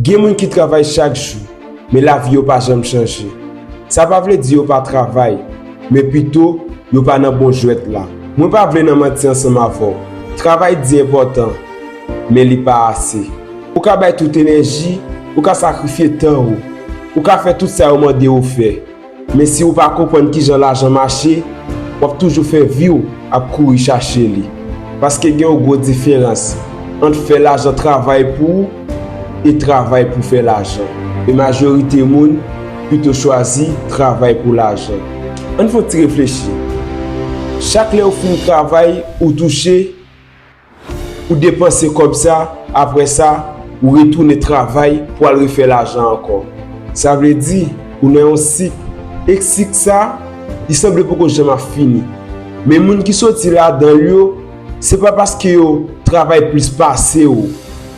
Gen moun ki travay chak jou, men lavi yo pa janm chanje. Sa pa vle di yo pa travay, men pito, yo pa nan bon jwèt la. Mwen pa vle nan manti ansanm avè w. Travay di enpòtan, men li pa ase. Ou ka bay tout enèji, ou ka sakrifye tan ou, ou ka fè tout sa yo mande ou fè. Men si ou pa konprann kijan lajan mache, w ap toujou fè vi w ap kouri chache li. Paske gen yon gwo diferans ant fè lajan travay pou ou e travay pou fè lajan. E majorite moun pito chwazi travay pou lajan. Ann fè yon ti reflechi. Chak lè ou fin travay, ou touche. Ou depanse kòb sa, apre sa, ou retounen travay pou al refè lajan ankò. Sa vle di, ou nan yon sik, e sik sa, li sanble poko janm ap fini. Men moun ki soti ladan l yo, se pa paske yo travay plis pase ou,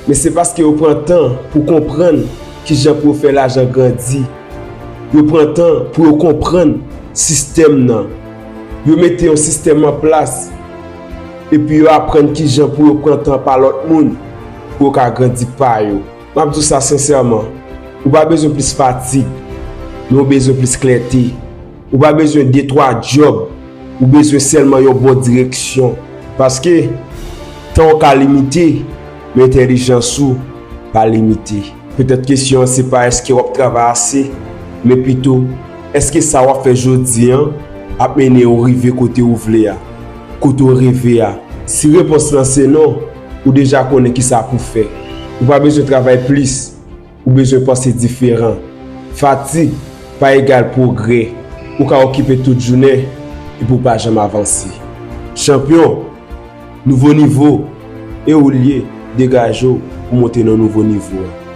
men se paske yo pran tan pou konprann ki jan pou yo fè lajan grandi. Yo pran tan pou yo konprann sistèm nan. Yo mete yon sistèm an plas. Epi yo aprann kijan pou yo pran tan pa lòt moun pou yo ka grandi pa yo. M ap di w sa sensèman, ou pa bezwen plis fatig, men ou bezwen plis klète. Ou pa bezwen de twa djòb, ou bezwen sèlman yon bon direksyon. Paske, tan w ka limite, men entèlijans ou pa limite. Petèt kesyon an se pa èske w ap travay ase, men pito, èske sa w ap fè jodi a ap mennen w rive kote w vle a, kote w reve a? Si repons lan se non, ou deja konnen ki sa pou w fè. Ou pa bezwen travay plis, ou bezwen panse diferan. Fatig pa egal pwogrè. Ou ka okipe tout jounen epi w pa janm avanse. Chanpyon! Nouvo nivo, e ou l ye, degaje w pou monte nan nouvo nivo a.